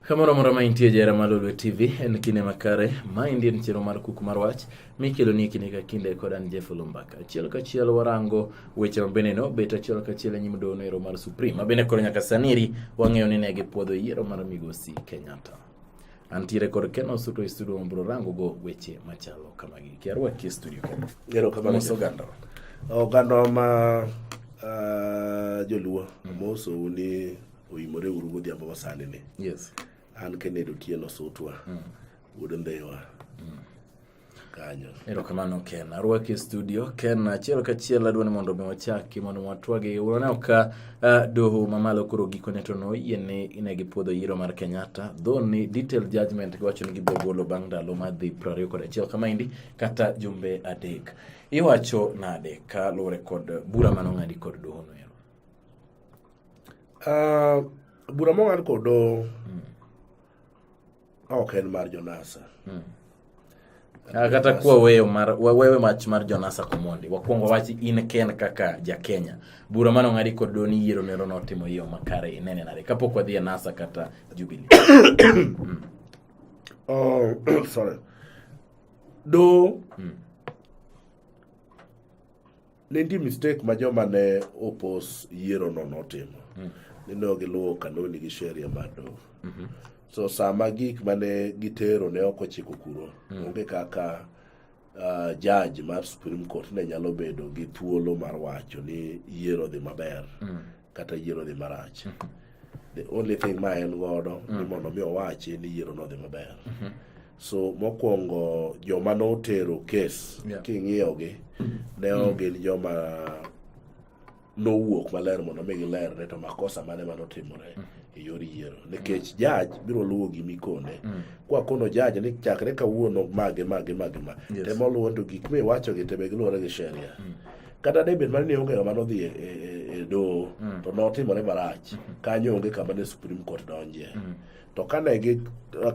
Kamoro amora ma intie jahera mar Lolwe TV, en kinde makare. Ma endi en chenro mar Kuku mar Wach mikeloni kinde ka kinde kod an Jeff Lumbaka. Achiel kachiel warango weche ma bende no bet achiel kachiel e nyim doho noero mar Supreme ma bende koro nyaka saniri wang'eyo ni ne gipuodho yiero mar migosi Kenyatta. Antiere kod Ken Osuto e studio ma biro rango go weche machalo kamagi. Kiarwaki e studio Ken. Ero kamano Mos oganda. Oganda ma uh, joluo mm. mosou ni oyimore uru godhiambo ma sani ni yes an kenedo tieno sutwa mm. wuod ndhewa mm. kanyo erokamano ken arwaki e studio ken achiel kachiel adwa ni mondo mi wachaki mondo watwagi unaneno ka uh, doho mamalo koro gikone to noyie ni ine gi puodho yiero mar kenyatta dho ni detail judgment giwacho ni gibiro golo bang' ndalo madhi prariyo kod achiel kamaendi kata jumbe adek iwacho nade ka luwore kod bura manong'adi kod dohono Uh, bura mong'ad kod doho mm. ok en mar jonasa mm. Ah, kata kuwa weyo mar wawewe wach mar jonasa komondi wakwongo wach in ken kaka jakenya bura mano ng'adi kod do ni yiero nero notimo yo makare inene nade kapok wadhi e nasa kata jubili mm. oh, sorry do mm. Ne nitie mistake ma joma ne opos yierono notimo. Mm. Ni ne ok giluwo kanuni gi sheria mar doho. Mm -hmm. So sama gik ma ne gitero ne ok ochiko kuro, mm. onge kaka uh, judge mar Supreme Court ne nyalo bedo gi thuolo mar wacho ni yiero dhi maber. Mm. kata yiero dhi marach the only thing ma en godo ni mondo mi owachi ni yiero nodhi maber so mokwongo joma notero kes Yeah. king'iyogi ne ok gin joma nowuok maler mondo mi giler ne to makosa mane ma notimore e yor yiero nikech jaj biro luwo gima ikone kwa kono jaj ni chakre kawuono mage mage mage ma Yes. temo luwo to gik miwachogi te be giluwore gi sheria kata debed mana ni onge ng'ama nodhi e, e, e, e doho mm. to notimore marach mm-hmm. kanyo onge kama ne supreme court donje mm. to kane gi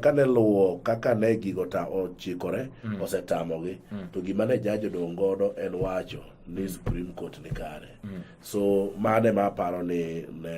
kane luwo kaka ne gigo ta ochikore mm. osetamogi mm. to gima ne jaji odong' godo en wacho ni supreme court ni kare mm. so mane ma aparo ni ne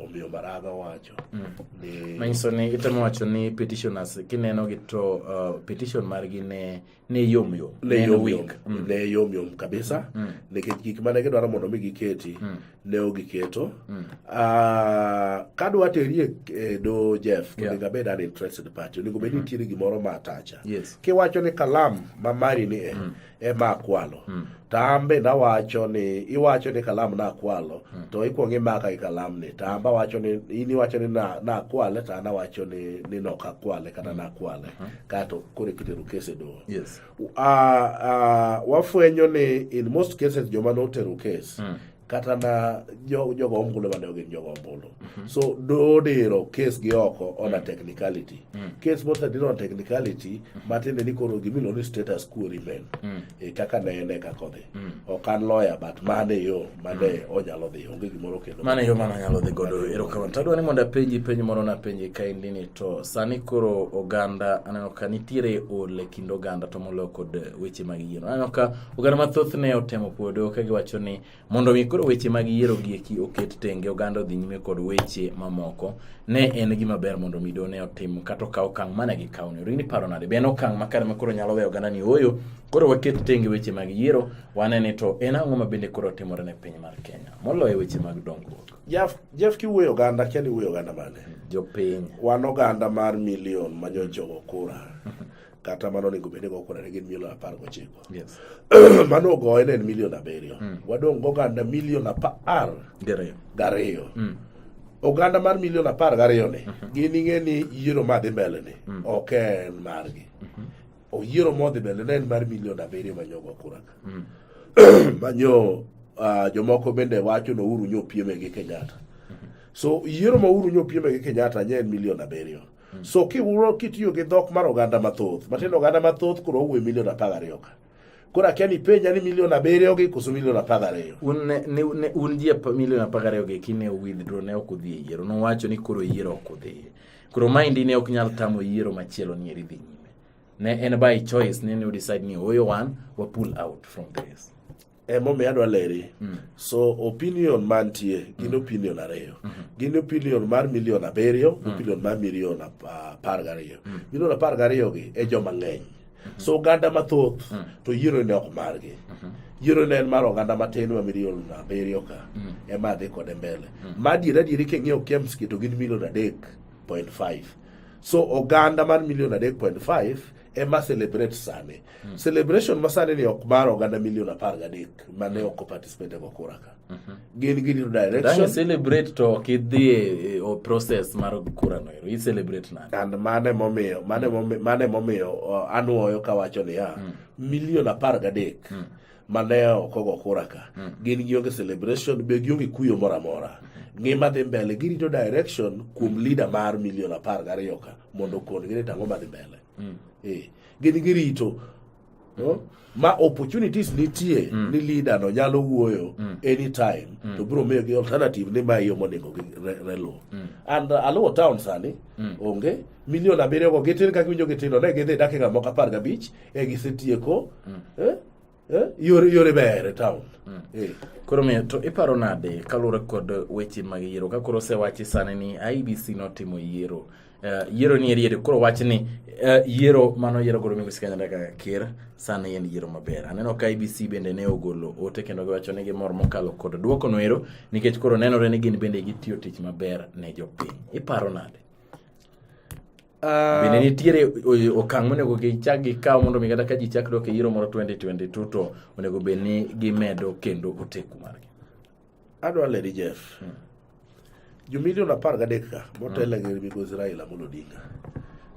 omiyo maraga wacho mm. ni manyiso ni itemo wacho ni petitioners kineno gi to uh, petition margi ne ne yom yom ne yom yom mm. ne yom yom kabisa mm. mm. nikech gik mane gidwaro mondo mi giketi mm. ne ogiketo mm. uh, kadwa teri e, e do Jeff yeah. onego abed an interested party onego bed mm-hmm. nitiere gimoro ma atacha yes. kiwacho ni kalam ma mari ni e mm. ema akwalo mm. to an be nawacho ni iwacho ni kalam nakwalo hmm. to ikwongo imaka gi kalam ni to an bawacho ni in iwacho ni nakwale to an awacho ni ni nok akwale kata hmm. nakwale hmm. kato koro ikitero kes e doho yes. uh, uh, wafwenyo ni in most cases joma notero kes mm. kata na jogo ombulu mane ogin jogo ombulu mhm. so dodiro kes gi oko on a mm. technicality mm. kes mosediro on technicality mm. matiende ni koro gimiluongo ni status quo remain e kaka ne en e kaka odhi ok an lawyer but mane yo mane onyalo dhi onge gimoro kendo mane yo mane onyalo dhi godo erokamano tadwa ni mondo apenji penj moro napenji kaendi ni to sani koro oganda aneno ka nitiere ol e kind oganda to moloyo kod weche mag yiero aneno ka Oganda mathoth ne otemo puodo ka giwacho ni mondo mi koro weche mag yiero gieki oket tenge oganda odhi nyime kod weche mamoko ne en gima ber mondo mido ne otim kata okaw okang' mane gikawo ni rini paro nade be en okang' makare ma koro nyalo weyo oganda ni ooyo koro waket tenge weche mag yiero wane ni to en ang'o ma bende koro timore ne piny mar Kenya moloyo weche mag dongruok. Jeff Jeff kiwuoyo oganda kia ni wuoyo oganda mane? Jopiny. Wan oganda mar milion manyochogo kura. kata mano onego bed ni gokwonane gin milion apar gochiko yes. mano ogoye ne en milion abiriyo mm. wadong' goganda milion apar gariyo mm. oganda mar milion apar gariyo ni mm -hmm. gin ing'e ni yiero ma dhi mbele ni mm. ok en margi mm -hmm. oyiero modhi mbele ne en mar milion abiriyo manyogo kuraka mm. manyo uh, jomoko bende wacho no uru nyo pieme gi kenyatta mm -hmm. so yiero ma uru nyo pieme gi kenyatta nye en milion abiriyo Hmm. So kiwuro kitiyo gi dhok mar oganda mathoth, matindo oganda mathoth koro owuoyo milion apar gariyo ka. Koro akia ni penja ni milion abiriyo gi koso milion apar gariyo. Un ne, ne, ne un ji milion apar gariyo gi kine withdraw ne ok udhi e yiero. Nowacho ni koro yiero ok udhi. Koro maendi ne ok nyal tamo yiero machielo ni eri dhi nyime. Ne en by choice ne ne udecide ni oyo wan wa pull out from this. emomiyo adwa leri mm. so opinion mantie gin mm. opinion ariyo mm -hmm. gin opinion mar milion abiriyo mm. opinion mar milion apar gariyo mm. milion apar gariyo gi e joma ng'eny mm -hmm. so oganda mathoth mm. to yiero ne ok margi mm -hmm. yiero ne en mar oganda matin ma milion abiriyo ka mm -hmm. ema dhi kode mbele mm. ma adier adieri king'iyo kemski to gin milion adek point five so oganda mar milion adek point five ema celebrate sani mm. celebration ma sani ni ok mar oganda milion apar gadek ma ne ok participate go kura ka mm -hmm. gin gidiro direction celebrate to ok idhi e, e process mar kura no ero i celebrate nani and mane momiyo mane momiyo mane momiyo uh, anuoyo kawacho niya mm. milion apar gadek mm. ma ne ok ogo kura ka mm. gin gionge celebration be gionge kuyo moro amora ngima dhi mbele girito direction kuom leader mar milion apar gariyo ka mondo okon gine tang'o madhi mbele mm. e, gin girito no? ma opportunities nitie mm. ni leader no nyalo wuoyo mm. anytime mm. to biro miyo gi alternative ni ma yo monego gi relo mm. and uh, aluo town sani mm. onge milion abiriyo go gitin ka giwinjo gitino ne gidhi dakika moko apar gabich e gisetieko mm. eh? Eh? yore yore ber e town mm. eh. koro miyo to iparo nade kaluwore kod weche mag yiero ka koro osewachi sani ni IBC notimo yiero Eh, yiero ni eriere koro wach ni eh, yiero mano yiero godo migosi kanyada kaka ker sani en yiero maber aneno ka ibc bende ne ogolo ote kendo giwacho ni gimor mokalo kod duoko noero nikech koro nenore ni gin bende gitiyo tich maber ne jopiny iparo nade Uh, bende nitiere okang' monego gichak gikaw mondo mi kata ka ji chak dok e yiero moro 2022 to onego bed ni gimedo kendo oteku margi adwa leri jeff hmm. jo milion apar gadek ka motela hmm. gi migosi raila amolo odinga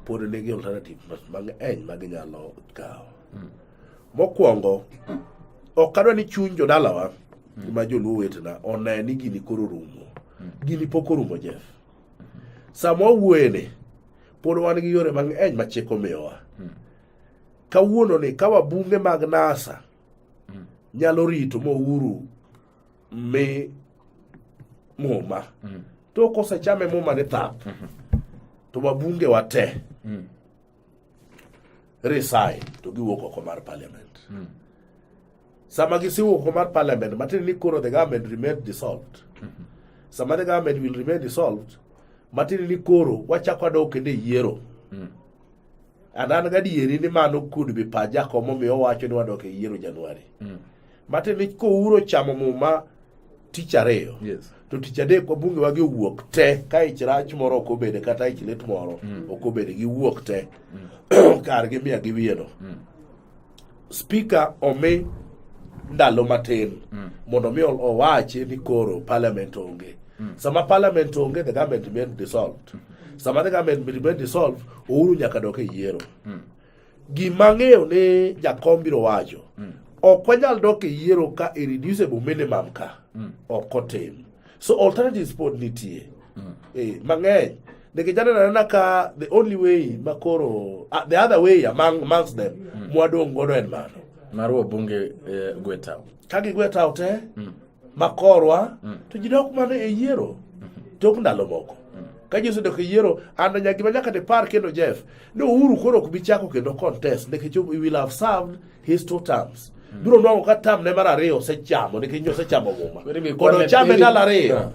pod nigi alternative mang'eny ma ginyalo kawo hmm. mokwongo ok adwa ni chuny jodalawa hmm. ma joluo wetena one ni gini koro rumo hmm. gini pok orumo jeff Sama wawuoyeni, pod wan gi yore mang'eny ma chik omiyowa. Hmm. Kawuononi, ka wabunge mag NASA hmm. nyalo rito ma uhuru mi muma, hmm. to kosechame muma ni thap, to wabungewa te resign to giwuok oko mar parliament mm. sama gisiwuok oko mar parliament matiende ni koro the government remain dissolved mm -hmm. sama the government will remain dissolved matiende ni koro wachako adok kendo e yiero mm. and an gadieri ni mano could be paja komomiyo wacho ni wadok e yiero januari mm. Mate mich kouro chamo muma tich ariyo. Yes. To tich adek wabunge wagi wuok te ka ich rach moro ok obede kata ich lit moro mm. ok obede gi wuok te mm. kar gi miya gi wiyeno. Mm. Speaker omi ndalo matin mm. mondo mi owachi ni koro parliament onge. Mm. Sama parliament onge the government remain dissolved. Mm -hmm. Sama the government remain dissolved, ouru nyaka dok e yiero. Mm. Gima ang'eyo ni jakom biro wacho, mm. ok wanyal dok e yiero ka irreducible minimum ka, mm. ok otim. So alternatives pod nitie. Mm. Eh, mang'eny. Nikech aneno anena ka the only way makoro, uh, the other way among, amongst them, mm. mwadong' godo en mano. Marwa bunge eh, gwetao. Ka gigwetao te, mm. ma korwa mm. to ji dok mana e yiero mm-hmm. tok ndalo moko mm. ka ji osedok e yiero anda nyaka gima nyaka dipar kendo jeff ni uhuru koro ok bi chako kendo contest nikech we will have served his two terms mm. biro nwang'o ka tam ne mar ariyo osechamo nikech nyo osechamo muma kodo chame ndalo ariyo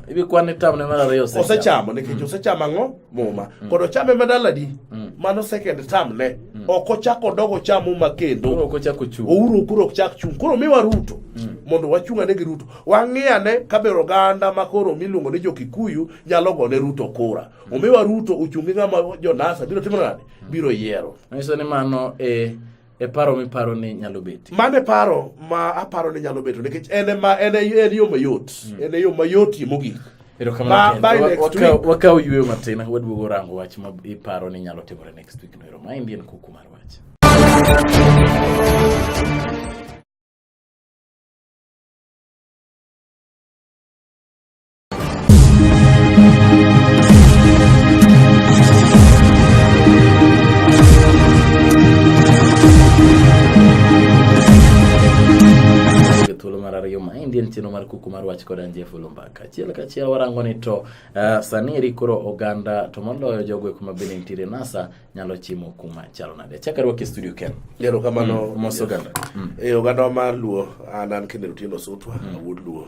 osechamo nikech osechamo ang'o muma mm. kod ochame madaladi mm. mano second term ne mm. ok ochak odog ocham muma kendo ouru koro ok chak chung' koro miwa ruto mm. mondo wachung' ane gi ruto wang'i ane kabe oganda ma koro miluongo ni jokikuyu nyalo gone ruto kura mm. omiwa ruto ochung' gi ng'ama jonasa biro timo nade mm. biro yiero nyiso ni mano e eh, e paro miparo ni nyalo betie mano e paro ma aparo ni nyalo beto nikech en ema en e- en yo mayot Hmm. en e yo mayotie mogik Ba- erokamano by next week. Ken. wakaw yueyo matin waduogo rango wach ma iparo ni nyalo timore next week no ero ma indien kuku mar wach en chenro mar kuku mar wach koda njefu lumbaka achiel kachiel warango ni to uh, sani eri koro oganda to moloyo jogo kuma bende nitiere nasa nyalo chimo kuma chalo nade chaka rwaki studio ken yero kamano mm, mos oganda mm. e oganda mar luo an an kendo tindo sutwa mm. awuod luo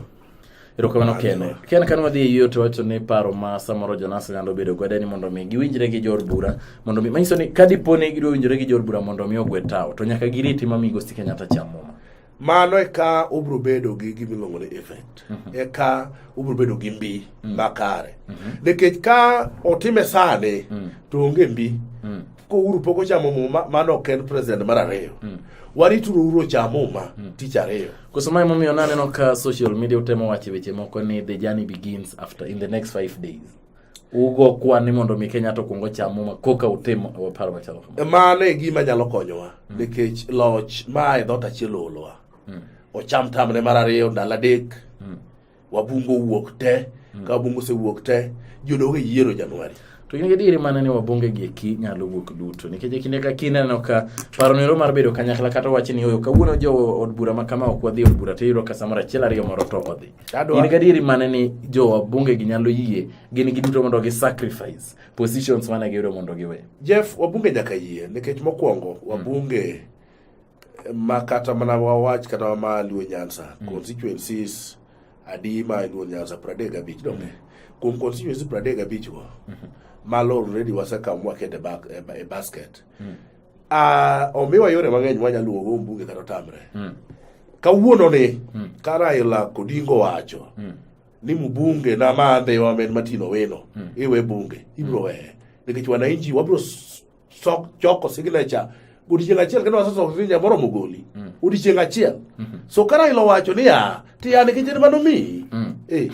Erokamano Ken. Ken kane wadhi e yiyo to wacho ni paro ma samoro Jonas nyalo bedo godo ni mondo mi giwinjre gi jor bura mondo mi manyiso ni ka dipo ni gidwa winjre gi jor bura mondo mi ogwe tawo to nyaka giriti ma migosi Kenyatta cham muma. Mano eka ubro bedo gi gima iluongo ni effect. Mhm. Eka ubro bedo gi mbi mhm. makare. Mhm. Nikech ka otime sani to onge mbi. kouru pok ochamo muma mano ok en president mar ariyo mm. warituru uru ocham muma mm. tich ariyo koso ma emomiyo naneno ka social media utemo wache weche moko ni the journey begins after in the next five days ugo kwan ni mondo mi kenya to kwongo cham muma koka utim paro machalo kamano mano e gima nyalo konyowa mm. nikech loch ma e dhot achiel oolowa mm. ocham tamne mar ariyo ndalo adek mm. Wabungo wuok te mm. ka wabungo osewuok te jodongo e yiero Januari to gin gadieri mana ni wabonge gi eki nyalo wuok duto nikech e kinde ka kinde aneno ka paro nero mar bedo kanyakla kata wach ni oyo kawuono jo od bura ma kama ok wadhi od bura to iyudo ka samoro achiel ariyo moro to odhi gin gadieri mana ni jo wabunge gi nyalo yie gin gi duto mondo gi sacrifice positions mana giyudo mondo giwe Jeff wabunge nyaka yie nikech mokwongo wabunge hmm. ma kata mana wawach kata wa ma luo nyansa mm. constituencies adi ma luo nyansa pradek gabich donge mm. kuom constituency pradek gabich go mm -hmm. malo already wasekawo mwakete e, e basket mm. uh, omiwa yore mang'eny mwanyalo luwogo mbunge kata otamre mm. kawuono ni mm. ka raila kodingo wacho mm. ni mbunge na madhe wamed matino weno mm. iwe bunge ibro mm. weye nikech wananchi wabro sok choko signature odiechieng' achiel kendo wasesoko signature moromo goli mm. odiechieng' achiel mm-hmm. so ka Raila owacho ni ya ti ya nikech en mano miyi mm. eh,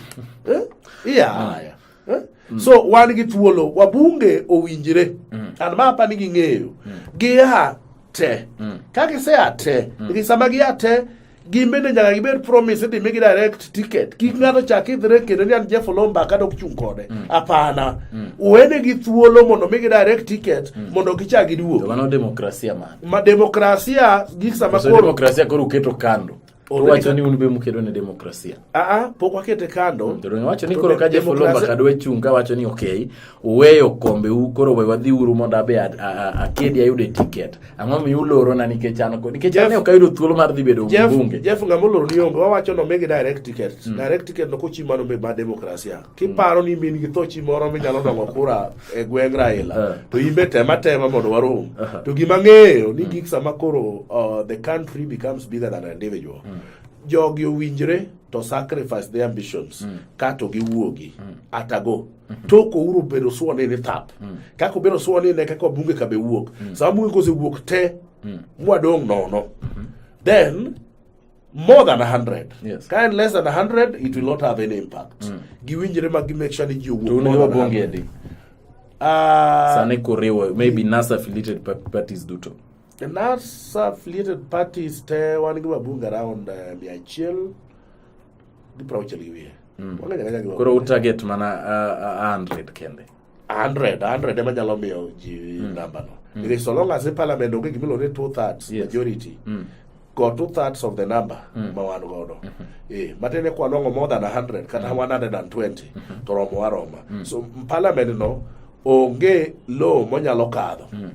eh, iya haya eh? mm. so wan gi thuolo wabunge owinjre an ma apa ni ging'eyo gia te ka gisea te nikech sama gia te gin bende nyaka gibed promise idhi migi direct ticket kik ng'ato chak idhre kendo ni an Jeff Olomba kata ok chung' kode mm. apana mm. uwene gi thuolo mondo migi direct ticket mm. mondo gichak giduog mano demokrasia man ma demokrasia gik sama koro demokrasia koro uketo kando Owacho ni un be mukedo ne demokrasia. Aa, pok wakete kando. Jodonyo wacho ni koro ka Jeff Olomba kadwa chung' ka wacho ni okay, uweyo kombe u koro we wadhi uru mondo abe akedi ayude ticket ang'o mi ulorona nikech an kod nikech an ok ayudo thuolo mar dhi bedo mbunge Jeff ng'ama oloro ni onge wawacho no mege direct ticket mm. direct ticket no kochi mano be ma demokrasia kiparo mm. ni min gi thochi moro minyalo dongo kura e gweng' Raila uh. to in be tema tema mondo warom uh -huh. to gima ng'eyo ni mm. gik sama koro uh, the country becomes bigger than an individual mm. jogi owinjre to sacrifice their ambitions mm. kato giwuogi mm. atago Mhm. tok ouro obedo suo ni ni thap mm. kaka obedo suo ni ne kaka bunge ka be wuok mm. sama bunge kose wuok te mm. mwadong' nono mm-hmm. then more than 100 yes. ka en less than 100 it will not have any impact mm. giwinjre ma gi make sure ni ji owuok ah, sani kuriwo maybe nasa affiliated parties duto the nasa affiliated parties te wan gi mabunge around uh, mia achiel gi prauchiel gi wiye Mm. Koro u target mana uh, uh, 100 kende. 100 100 ema nyalo miyo ji mm. namba no. Mm. Because so long as the parliament onge gimilo ni two thirds yes. majority. Mm. Got two thirds of the number mm. ma wan godo. Mm -hmm. Eh, matene kwa nongo more than 100 kata mm. 120 mm -hmm. to romo aroma. Mm. So parliament no onge law monyalo kadho. Mm.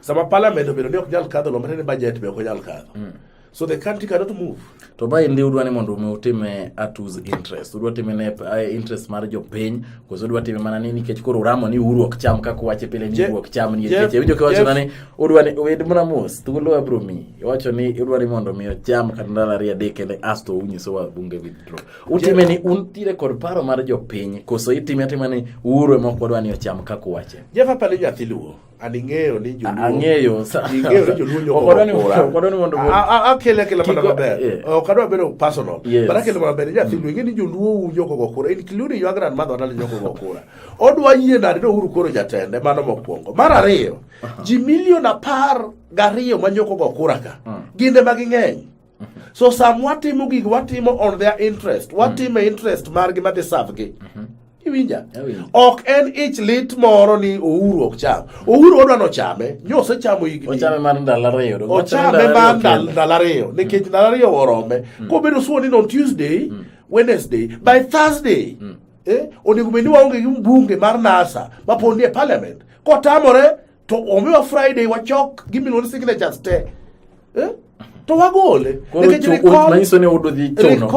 sama parliament obedo ni ok nyal kadho lombre ni budget be ok onyal kadho mm. so the country cannot move to ba indi udwa ni mondo utime at whose interest udwa time ne eh, interest mar jopiny koso udwa time mana ni nikech koro uramo ni uru ok cham kaka wache pile ni uru ok cham ni nikech winjo ka wacho ni udwa ni wed mana mos thuolo abro mi wacho ni udwa ni mondo mi ocham kata ndalo ariyo adek kende asto unyiso wa bunge withdraw Utime ni un tire kod paro mar jopiny koso itime atima ni uhuru ema ok wadwa ni ocham kaka uwache. Jeff aparo ni nyathi luo. An ing'eyo ni joluo. Ang'eyo. Ing'eyo ni joluo nyoko. Okodwa ni okodwa ni mondo. Akele akele mana maber. Eh. Ok adwa bedo personal. But akele mana maber. Nyathi luo ing'e ni joluo nyoko go kura. In kilu ni ywagra madho adal nyoko go kura. Odwa yie nade no uhuru koro jatende mano mokwongo. Mar ariyo. Ji milion apar gariyo ma nyoko go kura ka. Hmm. Ginde ma ging'eny. so sam watimo gig watimo on their interest watimo mm. interest margi madhi savgi mm-hmm. iwinja ok en ich lit moro ni ouru ok cham ouru odwa nochame nyose chamo yigichame mar ndalo ariyo mm. nikech ndalo ariyo orome mm. kobedo suo ni on tuesday mm. wednesday by thursday eh, onego bed ni waonge gi mbunge mar nasa maponi e parliament kotamore to omiwa Friday wachok gimiluongo ni signatures te eh? to wagole nikech recall manyiso ni udo dhi chuno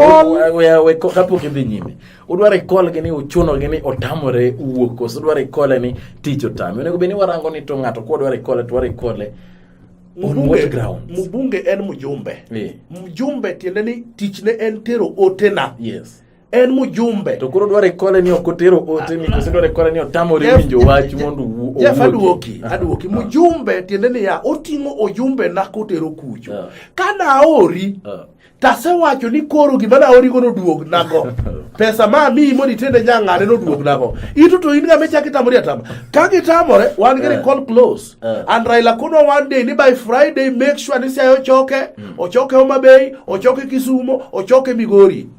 kapok idhi nyime udwa recall gi ni uchuno gi ni otamore wuok koso udwa recall ni tich otame onego bed ni warango ni to ng'ato kwa dwa recall to wa recall Mbunge en mjumbe. Yeah. Mjumbe tiende ni tichne en tero otena. Yes. en mujumbe to koro dware kole ni ok otero ote ni kose dware kole ni otamore Jeff- winjo wach mondo wu- Jeff owuogi. aduoki aduoki mujumbe tiende niya oting'o ojumbe na kotero kucho Yeah. ka naori Yeah. tasewacho ni koro gima naorigo noduog nago pesa ma amiyi mondo itende nyang'ane noduog nago ito to in ng'ama ichak itamori atama ka gitamore wan gi Yeah. recall close Yeah. and raila kono one day ni by friday make sure ni siayo ochoke ochoke homabay ochoke kisumo ochoke migori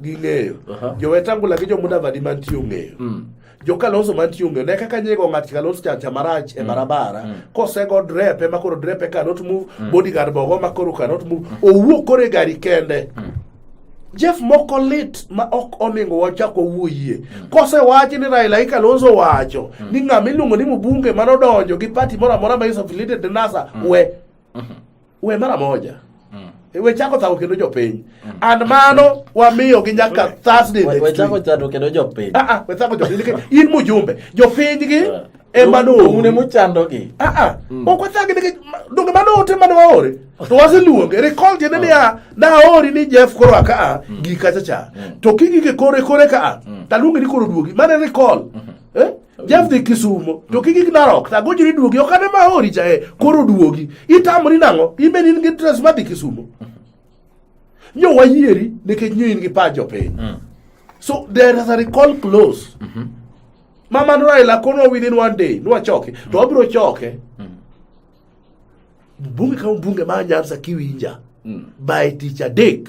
ging'eyo uh -huh. jowetangula gi jomudavadi mantie ong'eyo mm. jokalonso mantie ong'eyo ne kaka nyego ng'at kalonso chacha marach e mm. barabara mm. kosego drep ema koro drep e cannot move mm. bodyguard bogo ma koro cannot move mm. owuok koro e gari kende mm. Jeff moko lit ma ok oningo wachako wuoyie mm. kose wachi ni Raila i Kalonzo wacho mm. ni ng'ama iluongo ni Mubunge mano donjo gi party moro amora ma is affiliated NASA mm. we mm -hmm. we mara moja mm. E, we chako thako kendo jopiny mm. and mano wamiyo gi nyaka Thursday next week we chako thako kendo jopiny ah ah we thako jopiny in mujumbe jopiny gi yeah. ema noune mochandogi aa mm. ok wachagi nikech donge mano ote mane waore to waseluonge recall tiende mm. niya naori ni jeff koro a kaa mm. gi kacha cha to kigike kore kore kaa taluonge ni koro duogi mane recall mm-hmm. eh? Jeff dhi Kisumo to kik igna rok ta gojiri duogi ok ane ma hori jae eh, koro duogi itamri nang'o imen in gi dress ma dhi Kisumo nyo wayieri nikech nyo in gi pa jopiny mm. so there is a recall close mm -hmm. mama no Raila kono within one day nwa choke to wabiro choke mm. bunge kama bunge ma Nyanza kiwinja mm. by tich adek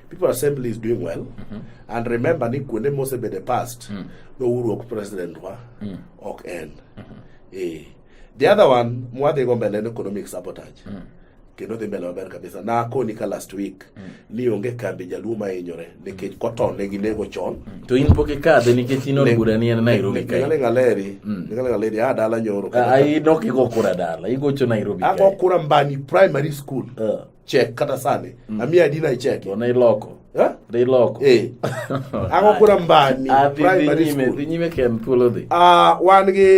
People Assembly is doing well. Mm -hmm. And remember, ni kuonde mose be the past, mm. no uru ok president wa, mm. ok en. Mm -hmm. eh. The other one, mwadhi go mbele economic sabotage. Mm. Kendo dhi mbele maber kabisa. Na akoni ka last week, mm. ni onge kambi jaluo ma inyore, nikech koton ne ginego chon. Mm. To in poke kadhe nikech in od bura ni en Nairobi kae. Ngale ngaleri, mm. ngale ngaleri, a ah, dala nyoro. A, ah, a, ah, inok igo kura dala, igocho Nairobi kae. Ago kura mbani primary school. Uh. chek kata sani mm. amiyo adi na icheke ona iloko eh? dhi loko eh. ang'o kura mbani ah, dhi nyime ken thuolo dhi ah, wan gi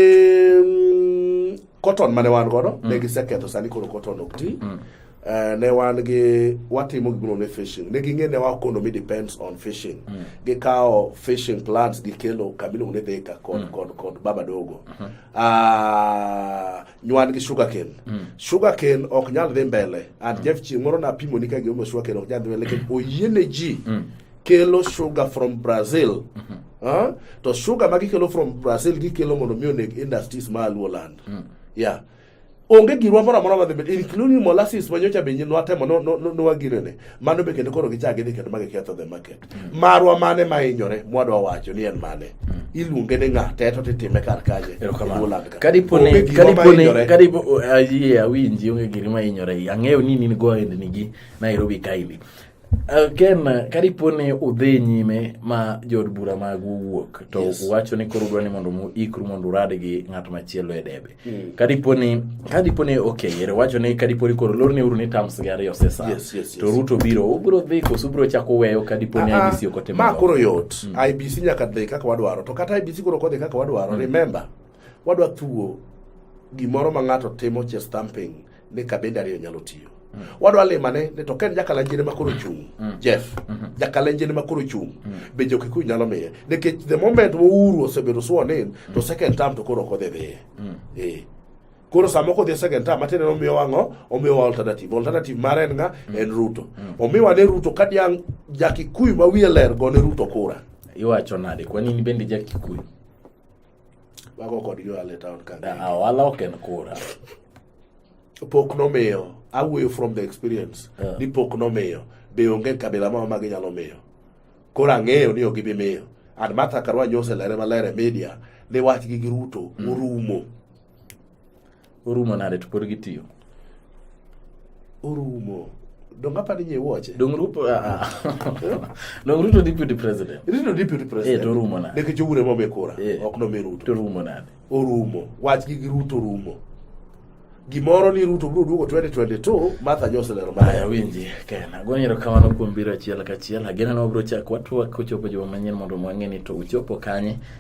mm, cotton mane wan godo mm. ne giseketho sani koro cotton ok ti mm. Uh, ne wan gi watimo gimoro ne fishing ne ging'e ne wa economy depends on fishing mm. gikawo fishing plants gikelo kamiluongo ni dhika kod, mm. kod, kod baba dogo mm -hmm. uh, nyuan gi sugar cane mm. sugar cane ok nyal dhi mbele and mm. jeff chieng moro napimo ni ka gimomiyo sugar cane ok nyal dhi mbele lakini oyiene ji mm. kelo sugar from brazil mm -hmm. huh? to sugar ma gikelo from brazil gikelo mondo mi oneg industries ma aluo land mm. yeah onge girwa moro amora madhi mbele including molasses ma nyocha be nwatemo nwaginene mano be kendo koro gichak gidhi kendo ma giketho the market marwa mane ma hinyore mwadwa wacho ni en mane hmm. iluonge ni ng'a teto titime kar kaje kadipone awinji onge giri ma hinyore ang'eyo ni nin go aendnigi nairobi kaili uh, ken kadipone udhi nyime ma jood bura magu wuok to yes. uwacho ni koro udwa ni mondo muikru mondo urad gi ng'at machielo e debe Mm. kadiponi kadiponi okay yere wacho ni kadiponi koro lorne uru ni terms gi ariyo sesa yes, yes, yes. to ruto biro ubiro dhi koso ubiro chako weyo kadiponi uh, IBC ok otimo ma koro yot mm. IBC nyaka dhi kaka wadwaro to kata IBC koro kodhi kaka wadwaro mm. remember wadwa thuo gimoro ma ng'ato timo che stamping ni kabinde ariyo nyalo tiyo mm. wadwa limane ni to ken jakalanjene ma koro chung mm. jeff mm -hmm. jakalanjene ma koro chung mm. be jokikuyu nyalo miye nikech the moment mouru osebedo sworn in mm. to second term to koro ok odhi dhiye mm. eh. koro sama ok odhi second term matiende ni omiyowa ang'o omiyowa alternative alternative mare en nga mm. en ruto mm. omiwa ne ruto ka diang' jakikuyu ma wiye ler go ne ruto kura iwacho nade kwa nini bende jakikuyu Wago kodgi ohala e taon ka. Ah, ohala ok en kura. Pok nomiyo. Awuoyo from the experience. Yeah. Ni pok nomiyo. Be onge kabila moro ma ginyalo miyo. Koro ang'eyo ni ok gibi miyo. And Martha Karua Nyose lere maler e media ni wachgi gi Ruto mm. orumo. orumo nade to pod gitiyo orumo donga padi nye woche dong ruto ah, ah. dong ruto deputy president ruto deputy president eh to rumo na deke jowure mo be kura eh. ok no me ruto to rumo na orumo wach gi gi ruto rumo gimoro ni ruto bro duogo 2022 martha nyose lero ma ya winji kena go nyero kamano kuom biro achiel ka achiel agena no bro chak watwa kochopo joma manyien mondo mwang'e ni to uchopo kanye